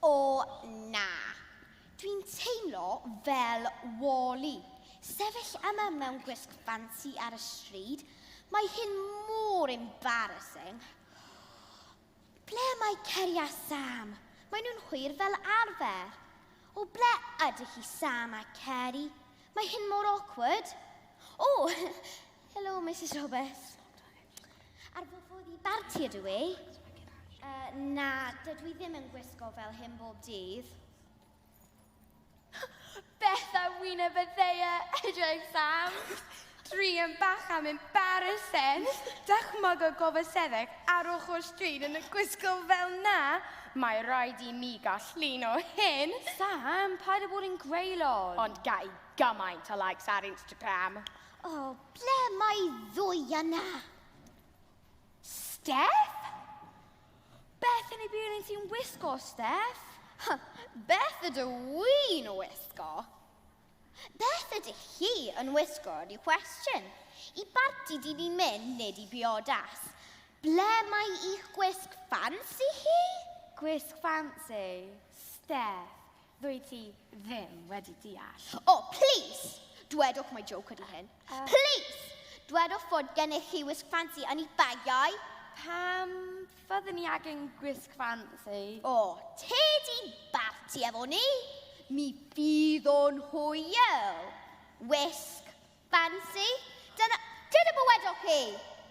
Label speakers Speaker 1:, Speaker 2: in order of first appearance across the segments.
Speaker 1: O na. Dwi'n teimlo fel Wall-E. Sefyll yma mewn gwisg ffansi ar y stryd, mae hyn mor embarrassing. Ble mae Ceri a Sam? Maen nhw'n hwyr fel arfer. O, ble ydych chi Sam a Ceri? Mae hyn mor awkward. O, helo Misus Roberts. Ar fy ffordd i barti ydw i. Uh, na, dydw i ddim yn gwisgo fel hyn bob dydd.
Speaker 2: Beth a wyneb y ddeia, edrych Sam. Dri yn bach am embarrassing. Dychmyg y gofaseddeg ar ochr stryd yn y gwisgo fel na. Mae rhaid i mi gael llun o hyn. Sam, paid â
Speaker 3: bod yn greulon. Ond gai
Speaker 2: gymaint o likes ar Instagram. O, ble
Speaker 1: mae ddwy yna?
Speaker 3: Steph? Beth yn ei byd yn ti'n wisgo, Steph? Beth
Speaker 1: ydw i'n wisgo? Beth ydych chi yn wisgo ydi cwestiwn. I barti di ni'n mynd nid i biodas. Ble mae i'ch gwisg ffansi chi? Gwisg
Speaker 3: ffansi? Steph, Ddwyt ti ddim wedi deall. O, oh, plis!
Speaker 1: Dwedwch mai joke ydy hyn. Uh, plis! Dwedwch fod gennych chi wisg ffansi yn eich bagiau. Pam
Speaker 3: fydden ni agen gwisg ffansi? O, oh, te
Speaker 1: di barti efo ni. Mi fydd o'n hwyl. Wisg Fancy? Dyna, dyna be wedoch chi!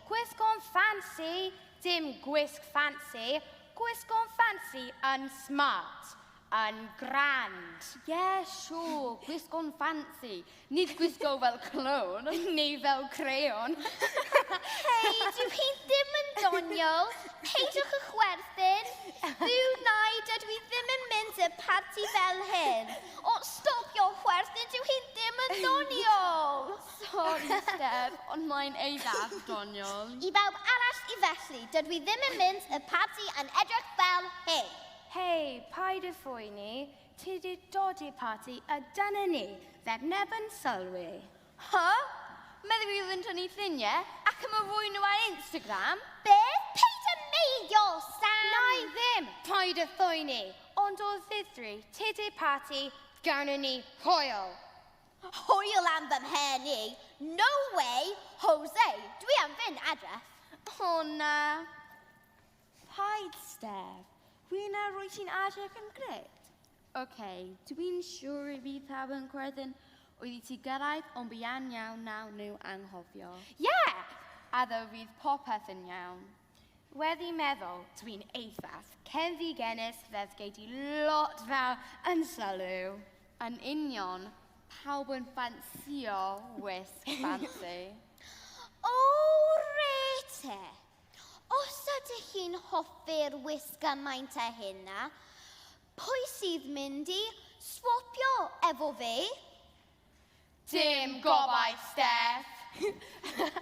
Speaker 1: Gwisg o'n
Speaker 2: fancy, dim gwisg fancy, gwisg o'n fancy yn smart, yn grand. Ie, yeah,
Speaker 3: siŵr, gwisg o'n fancy. Nid gwisgo fel clown. Neu fel
Speaker 2: creon. Hei,
Speaker 1: dyw hi ddim yn doniol. Peidiwch y chwerthin. Byw nai, dydw i ddim yn mynd y parti fel hyn. O, stopio chwerthin, dyw hi ddim yn doniol! Sori,
Speaker 3: Steph, ond mae'n eithaf doniol. I bawb arall
Speaker 1: i felly, dydw i ddim yn mynd y parti yn edrych fel hyn. Hei,
Speaker 2: paid â phoeni, ti 'di dod i'r parti a dyna ni, feb neb yn sylwi. Huh?
Speaker 3: Meddyg fi oedd yn tynnu lluniau ac yn rhoi nhw ar Instagram? Be? Paid
Speaker 1: â meiddio, Sam! Na i ddim!
Speaker 2: Paid â phoeni! Ond o ddifri, tŷ-de parti, gawnon ni hwyl! Hwyl
Speaker 1: am fy mhen i! No way! Jose, dwi am fynd adre! O na!
Speaker 3: Paid, Steph. Rwy'n ar roi ti'n adre pum gred. Ok, dw i'n siwr y fydd pawb yn credyn oedd i ti gyrraedd ond buan iawn nawn nhw anghofio. Yeah!
Speaker 2: A ddo fydd popeth yn iawn. Wedi meddwl, dw i'n eitha-s cenfigenus fes gei di lot fawr yn sylw. Yn union,
Speaker 3: pawb yn ffansïo wisg ffansi. O
Speaker 1: rete! Os ydych chi'n hoffi'r wisg gymaint â hyn-na, Pwy sydd mynd i swopio efo fi? Dim
Speaker 2: gobaith,
Speaker 1: Steff.